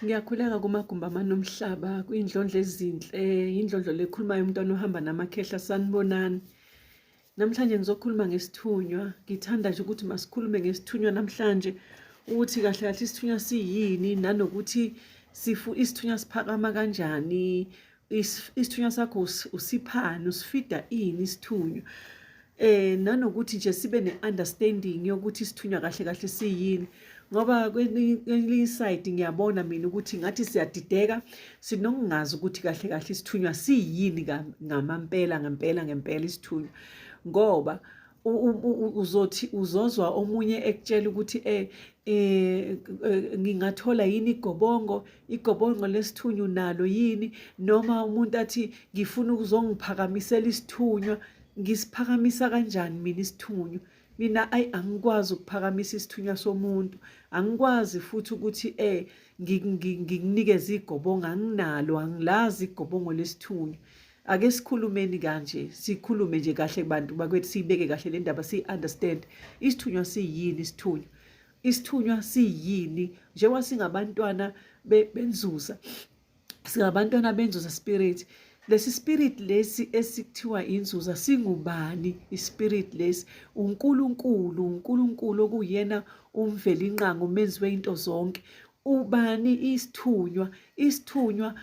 Ngiyakhuleka kumagumbi amanomhlaba kuyindlondlo ezinhle yindlondlo lekhulumayo umntwana ohamba namakhehla sanibonani namhlanje ngizokhuluma ngesithunywa ngithanda nje ukuthi masikhulume ngesithunywa namhlanje ukuthi kahle kahle isithunywa siyini nanokuthi sifu isithunywa siphakama kanjani isithunywa sakho usiphani usifida ini isithunywa eh nanokuthi nje sibe ne-understanding yokuthi isithunywa kahle kahle siyini ngoba kwelinye side ngiyabona mina ukuthi ngathi siyadideka sinokungazi ukuthi kahle kahle isithunywa siyini ngamampela ngempela ngempela isithunywa ngoba uzothi uzozwa omunye ekutshela ukuthi eh, eh, eh ngingathola yini igobongo igobongo lesithunywa nalo yini noma umuntu athi ngifuna ukuzongiphakamisela isithunywa ngisiphakamisa kanjani mina isithunywa mina ayi angikwazi ukuphakamisa isithunywa somuntu angikwazi futhi ukuthi eh ngikunikeza igobongo anginalo angilazi igobongo lesithunywa ake sikhulumeni kanje sikhulume nje kahle kubantu bakwethu siyibeke kahle le ndaba siyi-understand isithunywa siyini isithunywa isithunywa siyini njengoba singabantwana benzuza singabantwana benzuza spirit lesi spirit lesi esikuthiwa inzuza singubani ispirit lesi uNkulunkulu uNkulunkulu okuyena umvelinqango umenzi weinto zonke ubani isithunywa isithunywa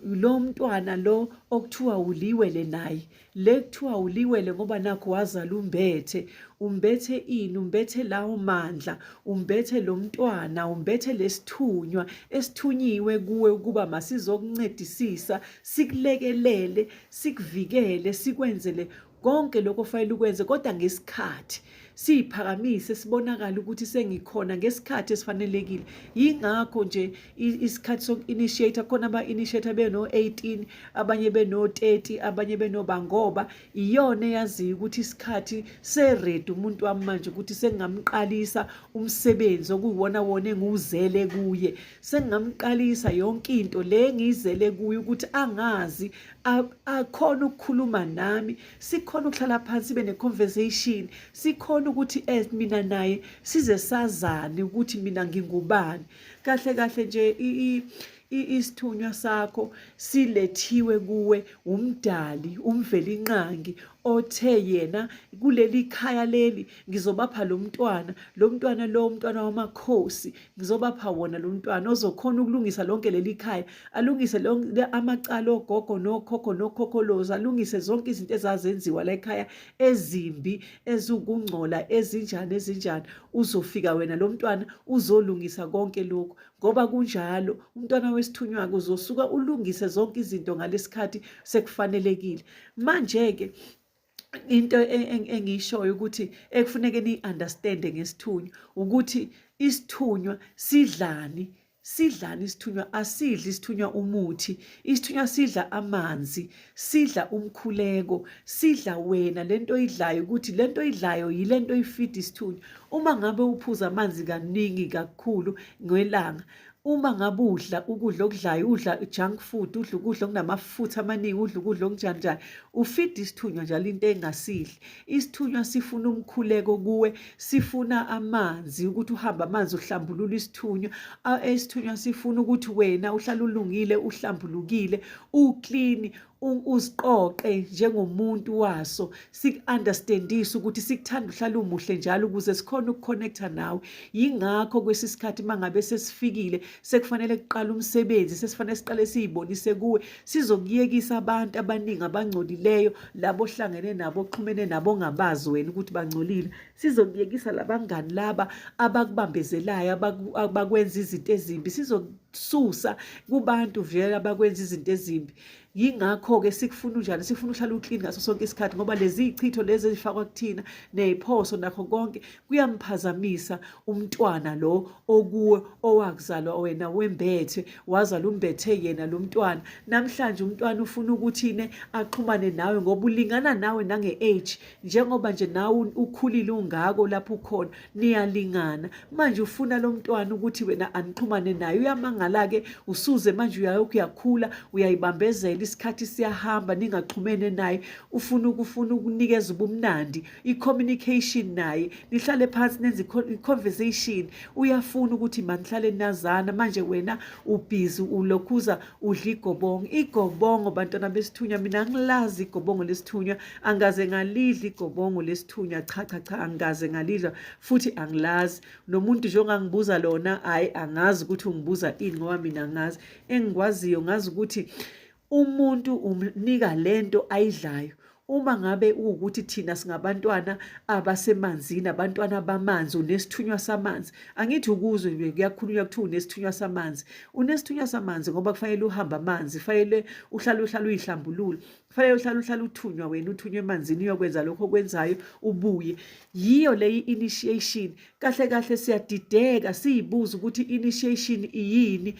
lo mntwana lo okuthiwa uliwele naye le kuthiwa uliwele ngoba nakho wazala umbethe umbethe ini umbethe lawo mandla umbethe lo mntwana umbethe lesithunywa esithunyiwe kuwe ukuba masizokuncedisisa sikulekelele sikuvikele sikwenzele konke lokho ofanele ukwenze kodwa ngesikhathi siyiphakamise sibonakala ukuthi sengikhona ngesikhathi esifanelekile yingakho nje isikhathi soku-initiate khona aba-initiate beno-18 abanye beno-30 abanye benoba ngoba iyona eyaziyo ukuthi isikhathi seredi umuntu wami manje ukuthi sengingamqalisa umsebenzi okuyiwona wona engiwuzele kuye sengingamqalisa yonke into le ngiyizele kuye ukuthi angazi akhona ukukhuluma nami sikhona ukuhlala phansi sibe ne-conversation sikhona ukuthi as mina naye size sazane ukuthi mina ngingubani kahle kahle nje isithunywa sakho silethiwe kuwe umdali umvelinqangi othe yena kuleli khaya leli ngizobapha lo mntwana lo mntwana lo mntwana wamakhosi ngizobapha wona lo mntwana ozokhona ukulungisa lonke leli khaya alungise amacala ogogo nokhokho nokhokholozi alungise zonke izinto ezazenziwa la ekhaya ezimbi ezukungcola ezinjani ezinjani uzofika wena lo mntwana uzolungisa konke lokhu ngoba kunjalo umntwana wesithunywa-ke uzosuka ulungise zonke izinto ngalesikhathi sekufanelekile manje-ke into engiyishoyo ukuthi ekufuneke niyi-understande ngesithunywa ukuthi isithunywa sidlani sidlani isithunywa asidli isithunywa umuthi isithunywa sidla amanzi sidla umkhuleko sidla wena lento oyidlayo ukuthi lento oyidlayo yilento oyifida isithunywa uma ngabe uphuza amanzi kaningi kakhulu ngelanga uma ngabe udla ukudla okudlayo udla junk food udla ukudla okunamafutha amaningi udla ukudla okunjani njani ufida isithunywa njalo into engasidli isithunywa sifuna umkhuleko kuwe sifuna amanzi ukuthi uhambe amanzi uhlambulula isithunywa isithunywa sifuna ukuthi wena uhlale ulungile uhlambulukile uklini usiqoqe njengomuntu waso siku-understandise ukuthi sikuthanda uhlala umuhle njalo ukuze sikhone ukukhonekta nawe yingakho kwesi sikhathi uma ngabe sesifikile sekufanele kuqala umsebenzi sesifanele siqale siyibonise kuwe sizokuyekisa abantu abaningi abangcolileyo labo ohlangene nabo oxhumene nabo ongabazi wena ukuthi bangcolile sizokuyekisa labangani laba abakubambezelayo abakwenza izinto ezimbi sizosusa kubantu vele abakwenza izinto ezimbi yingakho-ke sikufuna unjani sifuna uhlale uklini ngaso sonke isikhathi ngoba lezi y'chitho lezi ezifakwa kuthina ney'phoso nakho konke kuyamphazamisa umntwana lo okuwe owakuzalwa wena wembethwe wazala umbethe yena lo mntwana namhlanje umntwana ufuna ukuthine axhumane nawe ngoba ulingana nawe nange-age njengoba nje nawe ukhulile ungako lapho ukhona niyalingana manje ufuna lo mntwana ukuthi wena anixhumane naye uyamangala-ke usuze manje uyayokhu uyakhula uyayibambezela isikhathi siyahamba ningaxhumene naye ufuna ukufuna ukunikeza ubumnandi i-communication naye nihlale phansi nenze i-conversation uyafuna ukuthi manihlale nazana manje wena ubhizi ulokhuza udla igobongo igobongo bantwana besithunywa mina ngilazi igobongo lesithunywa angikaze ngalidla igobongo lesithunywa cha cha cha angikaze ngalidla futhi angilazi nomuntu nje ongangibuza lona hhayi angazi ukuthi ungibuza ini ngoba mina angazi engikwaziyo ngazi ukuthi umuntu umnika lento ayidlayo uma ngabe ukuthi thina singabantwana abasemanzini abantwana bamanzi unesithunywa samanzi angithi ukuzwe nje kuyakhulunywa kuthiwa unesithunywa samanzi unesithunywa samanzi ngoba kufanele uhambe amanzi kufanele uhlale uhlale uyihlambulule kufanele uhlale uhlale uthunywa wena uthunywe emanzini uyokwenza lokho okwenzayo ubuye yiyo leyi initiation kahle kahle siyadideka siyibuza ukuthi initiation iyini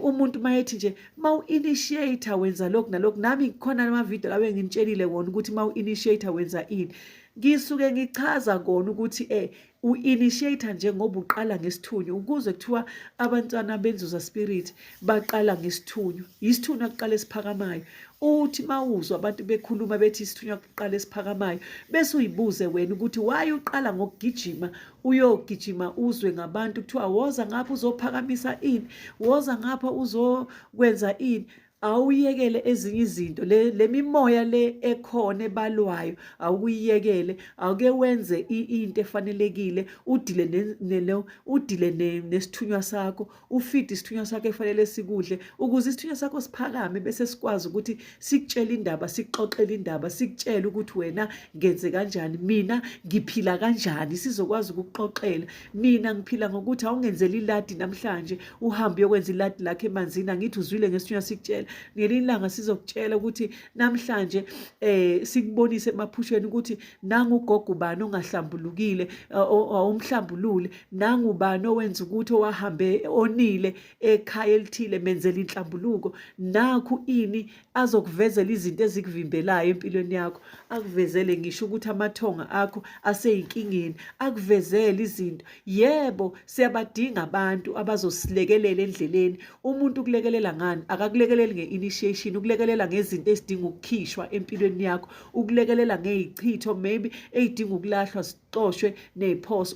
umuntu mayethi nje ma u-initiator wenza lokhu nalokhu nami ngikhona amavidiyo lawo engimtshelile wona ukuthi ma u-initiator wenza ini ngisuke ngichaza kona ukuthi eh u-initiate njengoba uqala ngesithunywa ukuze kuthiwa abantwana benzuza spirit baqala ngesithunywa yisithunywa kuqala esiphakamayo uthi mawuzwa abantu bekhuluma bethi isithunywa kuqala esiphakamayo bese uyibuze wena ukuthi why uqala ngokugijima uyogijima uzwe ngabantu kuthiwa woza ngapha uzophakamisa ini woza ngapha uzokwenza ini awuyekele ezinye izinto le lemimoya le ekhona ebalwayo awukuyekele awuke wenze into efanelekile udile ne udile nesithunywa sakho ufeed isithunywa sakho efanele sikudle ukuze isithunywa sakho siphakame bese sikwazi ukuthi sikutshele indaba sikuxoxele indaba sikutshele ukuthi wena ngenze kanjani mina ngiphila kanjani sizokwazi ukuxoxela nina ngiphila ngokuthi awungenzeli iladi namhlanje uhambe uyokwenza iladi lakhe emanzini angithi uzwile ngesithunywa sikutshela ngelinye ilanga sizokutshela ukuthi namhlanje um sikubonise emaphushweni ukuthi nangugogo ubani ongahlambulukile awumhlambulule nangubani owenza ukuthi owahambe onile ekhaya elithile menzela inhlambuluko nakhu ini azokuvezela izinto ezikuvimbelayo empilweni yakho akuvezele ngisho ukuthi amathonga akho aseyinkingeni akuvezele izinto yebo siyabadinga abantu abazosilekelela endleleni umuntu ukulekelela ngani akakulekeleli nge-initiation ukulekelela ngezinto ezidinga ukukhishwa empilweni yakho ukulekelela ngey'chitho maybe ey'dinga ukulahlwa zicoshwe ney'phoso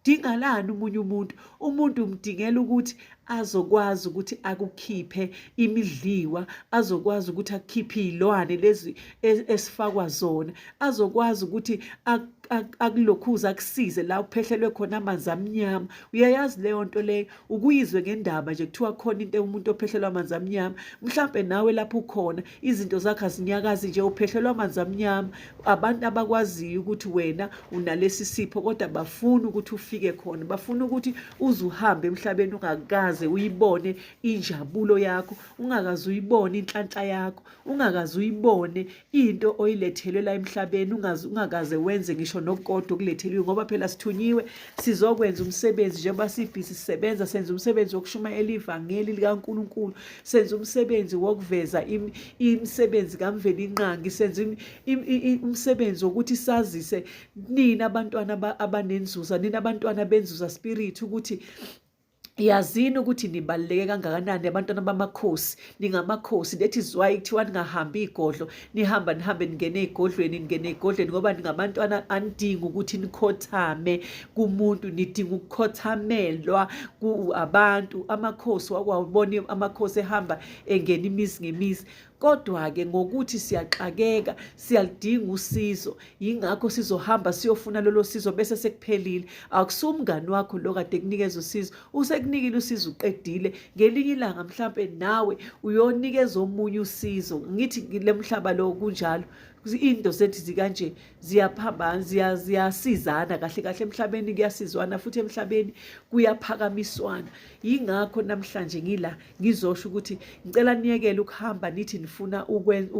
dingalani umunye umuntu umuntu umdingela ukuthi azokwazi ukuthi akukhiphe imidliwa azokwazi ukuthi akukhiphe izilwane lezi e-, esifakwa zona azokwazi ukuthi akulokhuza akusize la uphehlelwe khona amanzi amnyama uyayazi leyo nto leyo ukuyizwe ngendaba nje kuthiwa khona into umuntu ophehlelwa amanzi amnyama mhlampe nawe lapho ukhona izinto zakhe azinyakazi nje uphehlelwa amanzi amnyama abantu abakwaziyo ukuthi wena unalesi sipho kodwa bafuna ukuthi ufike khona bafuna ukuthi uze uhambe emhlabeni ungakaze uyibone injabulo yakho ungakaze uyibone inhlanhla yakho ungakaze uyibone into oyilethelwe la emhlabeni ungakaze wenze ngisho nokukodwa okuletheliwe ngoba phela sithunyiwe sizokwenza umsebenzi njengoba sibhizi sisebenza senza umsebenzi wokushumayela ivangeli likaNkulunkulu senza umsebenzi wokuveza imisebenzi kamvelinqangi senza umsebenzi wokuthi sazise nina abantwana abanenzuza nina abantwana benzuza spirit ukuthi yazini ukuthi nibaluleke kangakanani abantwana bamakhosi ningamakhosi that is why kuthiwa ningahambi igodlo nihamba nihambe ningene ey'godlweni ningene ey'godlweni ngoba ningabantwana anidingi ukuthi nikhothame kumuntu nidinga ukukhothamelwa abantu amakhosi wakwawubona amakhosi ehamba engena imizi ngemizi kodwa-ke ngokuthi siyaxakeka siyalidinga usizo yingakho sizohamba siyofuna lolo sizo bese sekuphelile akusumngani wakho lo kade kunikeza usizo usekunikile usizo uqedile ngelinye ilanga mhlampe nawe uyonikeza omunye usizo ngithi lemhlaba lo kunjalo into zethu zikanje ziyaphambana ziyasizana kahle kahle emhlabeni kuyasizwana futhi emhlabeni kuyaphakamiswana yingakho namhlanje ngila ngizosho ukuthi ngicela niyekele ukuhamba nithi nifuna ukwenza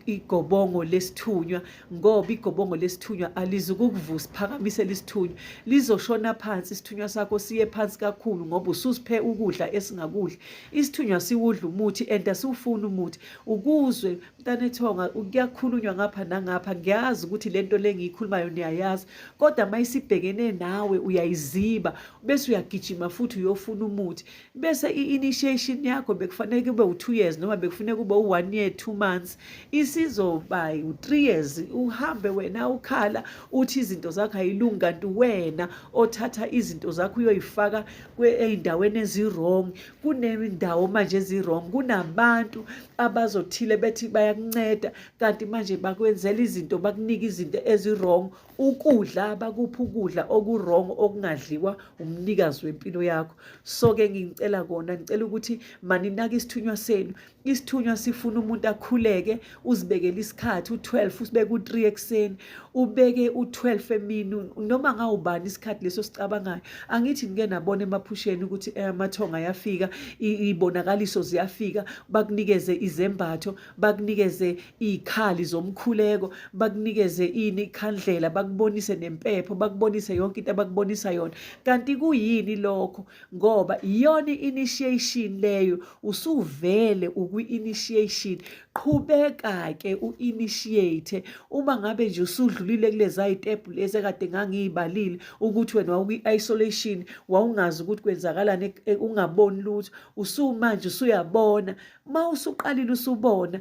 igobongo lesithunywa ngoba igobongo lesithunywa alizukukuvusa phakamise lisithunywa lizoshona phansi isithunywa sakho siye phansi kakhulu ngoba ususiphe ukudla esingakudla isithunywa siwudla umuthi and asiwufuni umuthi ukuzwe mntanethonga kuyakhulunywa ngapha nangapha ngiyazi ukuthi le nto le ngiyikhulumayo niyayazi kodwa uma isibhekene nawe uyayiziba bese uyagijima futhi uyofuna umuthi bese i-initiation yakho bekufanele kube u-two years noma bekufuneka kube u-one year two months isizoba u-three years uhambe wena ukhala uthi izinto zakho ayilungi kanti wena othatha izinto zakho uyoyifaka ey'ndaweni ezi-wrong kunendawo manje ezi-wrong kunabantu abazothile bethi bayakunceda kanti manje bakwenzela izinto bakunike izinto ezi-wrong ukudla bakuphi ukudla oku-wrong okungadliwa umnikazi wempilo yakho so-ke ngicela kona ngicela ukuthi maninake isithunywa senu isithunywa sifuna umuntu akhuleke uzibekele isikhathi u-12 usibeke u-3 ekuseni ubeke u-12 emini noma ngawubani isikhathi leso sicabangayo angithi ngike nabona emaphusheni ukuthi eh, amathonga ayafika ibonakaliso ziyafika bakunikeze izembatho bakunikeze iy'khali zomkhuleko bakunikeze ini ikhandlela bakubonise nempepho bakubonise yonke into abakubonisa yona kanti kuyini lokho ngoba iyona i-initiation leyo usuvele ukwi-initiation qhubeka-ke u-initiate uma ngabe nje usudlulile kuleza yitepu lezi ekade ngangiy'balile ukuthi wena wawukwi-isolation wawungazi ukuthi kwenzakalani e, e, ungaboni lutho usumanje usuyabona uma usuqalile usubona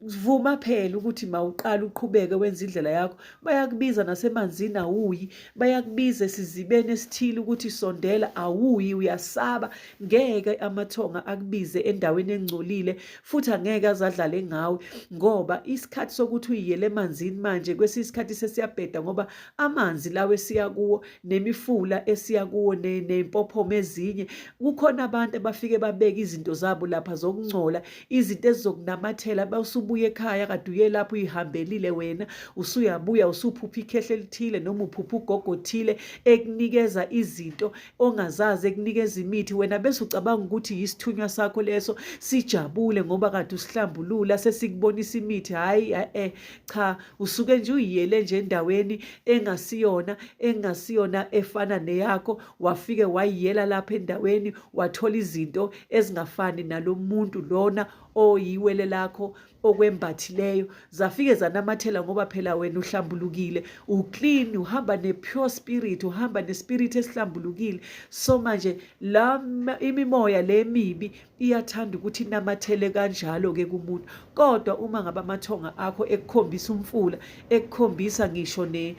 vuma phela ukuthi mawuqala uqhubeke wenza indlela yakho bayakubiza nasemanzini awuyi bayakubiza esizibeni esithile ukuthi sondela awuyi uyasaba ngeke amathonga akubize endaweni engcolile futhi angeke azadlale ngawe ngoba isikhathi sokuthi uyiyele emanzini manje kwesinye isikhathi sesiyabheda ngoba amanzi lawo esiya kuwo nemifula esiya kuwo ney'mpophoma ezinye kukhona abantu abafike babeke izinto zabo lapha zokungcola izinto ezizokunamathela basubuye ekhaya kade uye lapho uyihambelile wena usuyabuya usuphupha ikhehle elithile noma uphupha ugogo othile ekunikeza izinto ongazazi ekunikeza imithi wena bese ucabanga ukuthi yisithunywa sakho leso sijabule ngoba kade usihlambulula sesikubonisa imithi hhayi eh cha usuke nje uyiyele nje endaweni engasiyona engasiyona efana neyakho wafike wayiyela lapha endaweni wathola izinto ezingafani nalo muntu lona oyiwele lakho okwembathileyo zafike zanamathela ngoba phela wena uhlambulukile uclean uhamba ne-pure spirit uhamba nespirit esihlambulukile so manje la imimoya le mibi iyathanda ukuthi inamathele kanjalo-ke kumuntu kodwa uma ngabe amathonga akho ekukhombisa umfula ekukhombisa ngisho ne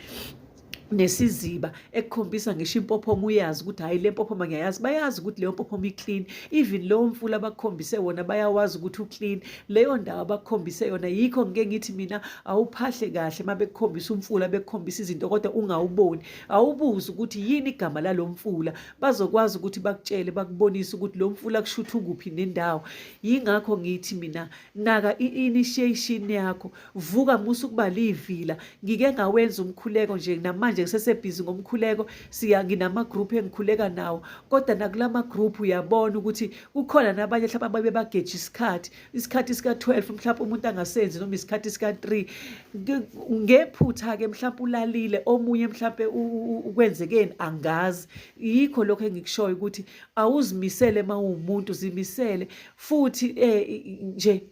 nesiziba ekukhombisa ngisho impophomo uyazi ukuthi hhayi le mpophoma ngiyayazi bayazi ukuthi leyo mpophoma iclean even lowo mfula abakukhombise wona bayawazi ukuthi uclean leyo ndawo abakukhombise yona yikho ngike ngithi mina awuphahle kahle uma bekukhombisa umfula bekukhombisa izinto kodwa ungawuboni awubuzi ukuthi yini igama lalo mfula bazokwazi ukuthi bakutshele bakubonise ukuthi lo mfula kushutha ukuphi nendawo yingakho ngithi mina naka i-initiation yakho vuka musa ukuba liyivila ngike ngawenza umkhuleko nje namanje ngisesebhizi ngomkhuleko siya nginama-group engikhuleka nawo kodwa nakula ma-group uyabona ukuthi kukhona nabanye hlaba babe bageje isikhathi isikhathi sika-12 mhlawumpe umuntu angasenzi noma isikhathi sika-3 ngephutha-ke mhlawumpe ulalile omunye mhlawumpe ukwenzekeni angazi yikho lokho engikushoyo ukuthi awuzimisele uma uwumuntu zimisele futhi um nje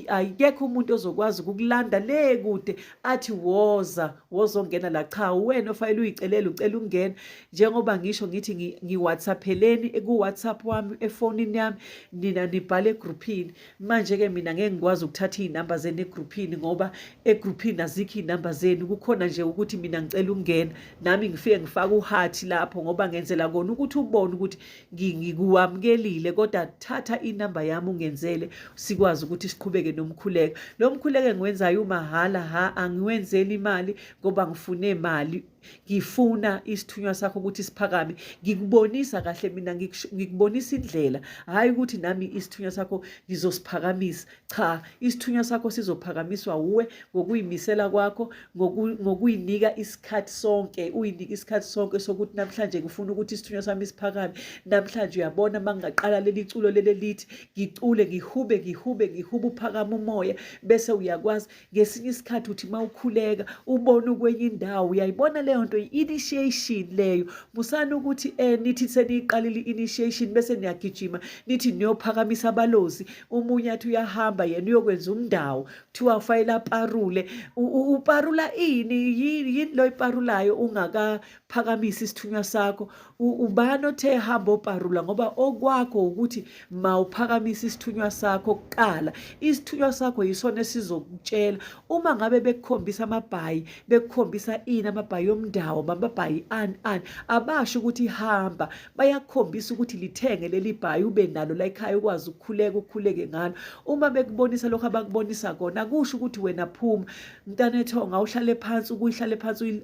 akekho umuntu ozokwazi ukukulanda le kude athi woza wozongena la cha uwena ofanele uyicelela ucela ungena njengoba ngisho ngithi ngiwhatsapheleni ku-whatsapp wami efonini yami nina nibhale egruphini manje-ke mina ngeke ngikwazi ukuthatha iy'namba zenu egruphini ngoba egruphini azikho iy'namba zenu kukhona nje ukuthi mina ngicela ukungena nami ngifike ngifake uhathi lapho ngoba ngenzela kona ukuthi ubone ukuthi ngikuwamukelile kodwa thatha inamba yami ungenzele sikwazi ukuthi siqhubeke nomkhuleko lo mkhuleko engiwenzayo umahhala ha angiwenzeli imali ngoba ngifune imali ngifuna isithunywa sakho ukuthi siphakame ngikubonisa kahle mina ngikubonisa indlela hhayi ukuthi nami isithunywa sakho ngizosiphakamisa Cha, isithunywa sakho sizophakamiswa wuwe ngokuyimisela kwakho, ngokuyinika isikhathi sonke, uyinike isikhathi sonke sokuthi namhlanje ngifuna ukuthi isithunywa sami siphakame. Namhlanje uyabona uma ngingaqala leli culo leli elithi ngicule, ngihube, ngihube, ngihube uphakama umoya bese uyakwazi. ngesinye isikhathi uthi uma ukhuleka ubona ukwenye indawo uyayibona leyo nto i-initiation leyo musani ukuthi um nithi seniyiqalile i-initiation bese niyagijima nithi niyophakamisa abalozi umunye athi uyahamba yena uyokwenza umndawo kuthiwa ufayela parule uparula ini yini lo iparulayo phakamisa isithunywa sakho ubani othe hamba oparula ngoba okwakho ukuthi mawuphakamisa isithunywa sakho kuqala isithunywa sakho yisona esizokutshela uma ngabe bekukhombisa amabhayi bekukhombisa ini amabhayi omndawo amabhayi ani ani abasho ukuthi hamba bayakhombisa ukuthi lithenge leli bhayi ube nalo la ekhaya ukwazi ukukhuleka ukhuleke ngalo uma bekubonisa lokho abakubonisa kona kusho ukuthi wena phuma mntana ethonga uhlale phansi ukuyihlale phansi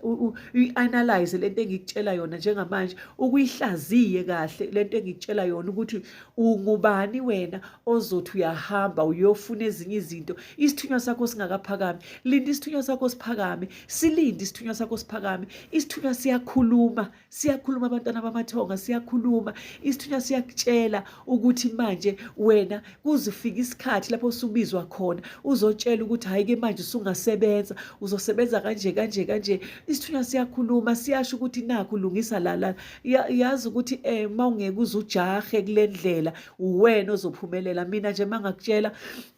uyi-analyze lento engikutshela yona njengamanje ukuyihlaziye kahle lento engikutshela yona ukuthi ungubani wena ozothi uyahamba uyofuna ezinye izinto isithunywa sakho singakaphakami linda isithunywa sakho siphakame silinde isithunywa sakho siphakame isithunywa siyakhuluma siyakhuluma abantwana bamathonga siyakhuluma isithunywa siyakutshela ukuthi manje wena kuzifika isikhathi lapho usubizwa khona uzotshela ukuthi hhayi ke manje usungasebenza uzosebenza kanje kanje kanje isithunywa siyakhuluma siyasho ukuthi nakho lungisa lala yazi ukuthi um eh, uma ungeke uze ujahe kule ndlela uwena ozophumelela mina nje uma ngakutshela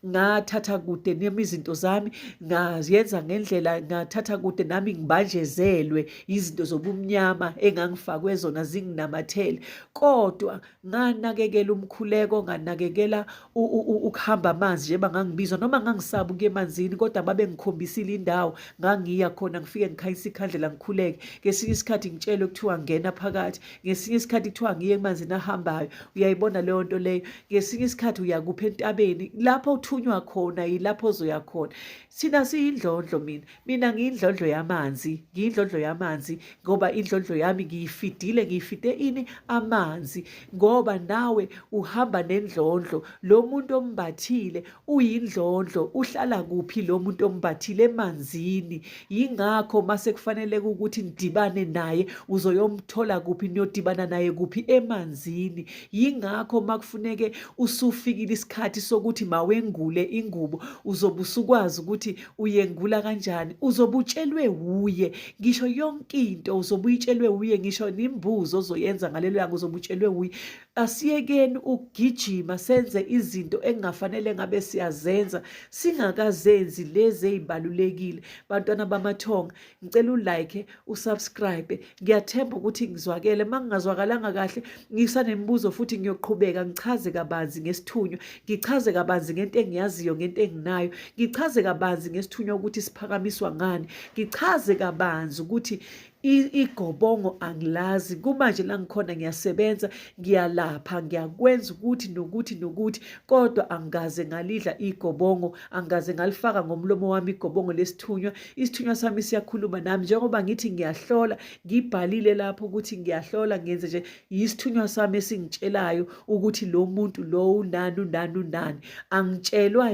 ngathatha kude nemi izinto zami ngayenza ngendlela ngathatha kude nami ngibanjezelwe izinto zobumnyama engangifakwe zona zinginamathele kodwa nganakekela umkhuleko nganakekela ukuhamba amanzi njengoba ngangibizwa noma ngangisaba ukuya emanzini kodwa babengikhombisile indawo ngangiya khona ngifike ngikhanyisa ikhandlela ngikhuleke ngesinye isikhathi ngitshelwe kuthiwa ngena phakathi ngesinye isikhathi kuthiwa ngiye emanzini ahambayo uyayibona leyo nto leyo ngesinye isikhathi uyakupha entabeni lapho uthunywa khona yilapho ozoya khona thina siyindlondlo mina mina ngiyindlondlo yamanzi ngiyindlondlo yamanzi ngoba indlondlo yami ngiyifidile ngiyifide ini amanzi ngoba nawe uhamba nendlondlo lo muntu ombathile uyindlondlo uhlala kuphi lo muntu ombathile emanzini yingakho mase kufanele ukuthi nidibane naye uzoyomthola kuphi niyodibana naye kuphi emanzini yingakho makufuneke usufikile isikhathi sokuthi mawengule ingubo uzobe usukwazi ukuthi uyengula kanjani uzobutshelwe wuye ngisho yonke into uzobuyitshelwe wuye ngisho nimbuzo ozoyenza ngalelo langa uzobutshelwe wuye asiyekeni ukugijima senze izinto engafanele ngabe siyazenza singakazenzi lezi ezibalulekile bantwana bamathonga ngicela ulike usubscribe ngiyathemba ukuthi ngizwakele uma ngingazwakalanga kahle ngisanemibuzo futhi ngiyoqhubeka ngichaze kabanzi ngesithunywa ngichaze kabanzi ngento engiyaziyo ngento enginayo ngichaze kabanzi ngesithunywa ukuthi siphakamiswa ngani ngichaze kabanzi ukuthi igobongo angilazi kumanje la ngikhona ngiyasebenza ngiyalapha ngiyakwenza ukuthi nokuthi nokuthi kodwa angikaze ngalidla igobongo angikaze ngalifaka ngomlomo wami igobongo lesithunywa isithunywa sami siyakhuluma nami njengoba ngithi ngiyahlola ngibhalile lapho ukuthi ngiyahlola ngenze nje yisithunywa sami esingitshelayo ukuthi lo muntu lo unani unani unani angitshelwa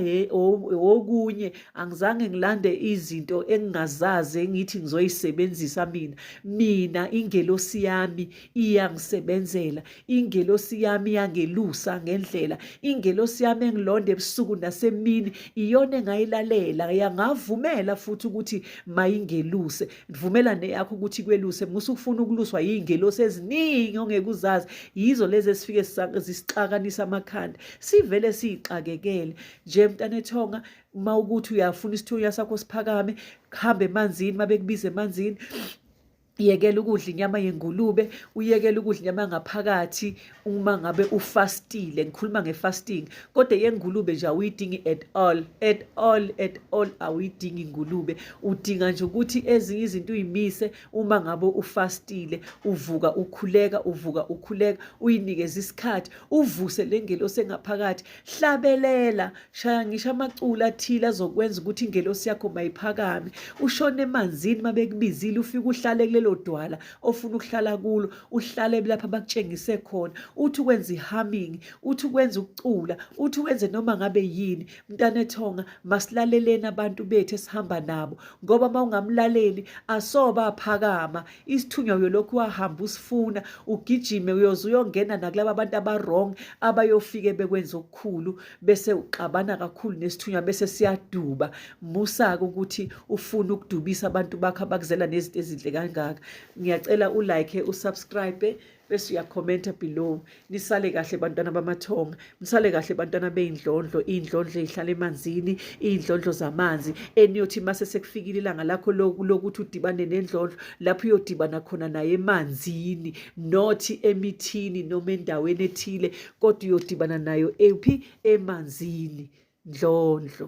okunye angizange ngilande izinto engingazazi engithi ngizoyisebenzisa mina mina ingelosi yami iyangisebenzela ingelosi yami yangelusa ngendlela ingelosi yami engilonda ebusuku nasemini iyona engayilalela yangavumela futhi ukuthi mayingeluse vumela neyakho ukuthi kweluse musa ukufuna ukuluswa yiy'ngelosi eziningi ongeke uzazi yizo lezi esifike zisixakanisa amakhanda sivele siyixakekele nje mntanethonga uma ukuthi uyafuna isithunywa sakho siphakame kuhambe emanzini uma bekubiza emanzini yekela ukudla inyama yengulube uyekela ukudla inyama yangaphakathi uma ngabe ufastile ngikhuluma ngefasting kodwa yengulube nje awuyidingi at all at all at all awuyidingi ingulube udinga nje ukuthi ezinye izinto uyimise uma ngabe ufastile uvuka ukhuleka uvuka ukhuleka uyinikeze isikhathi uvuse le ngelosi engaphakathi hlabelela shaya ngisho amaculo athile azokwenza ukuthi ingelosi yakho mayiphakame ushone emanzini uma bekubizile ufike uhlale kulelo dwala ofuna ukuhlala kulo uhlale lapha bakutshengise khona uthi ukwenza i-humming uthi ukwenza ukucula uthi wenze noma ngabe yini mntana ethonga masilaleleni abantu bethu esihamba nabo ngoba uma ungamlaleli asoba aphakama isithunywa uyolokhu wahamba usifuna ugijime uyoze uyongena nakulaba abantu aba-wrong abayofike bekwenza okukhulu bese uxabana kakhulu nesithunywa bese siyaduba musa-ke ukuthi ufune ukudubisa abantu bakho abakuzela nezinto ezinhle kangaka ngiyacela ulike usubscribe bese uyakhomenta below nisale kahle bantwana bamathonga msale kahle bantwana beyindlondlo iyindlondlo ezihlala emanzini iyindlondlo zamanzi eniyothi mase sekufikile ilanga lakho lokuthi udibane nendlondlo lapho uyodibana khona naye emanzini not emithini noma endaweni ethile kodwa uyodibana nayo ephi emanzini ndlondlo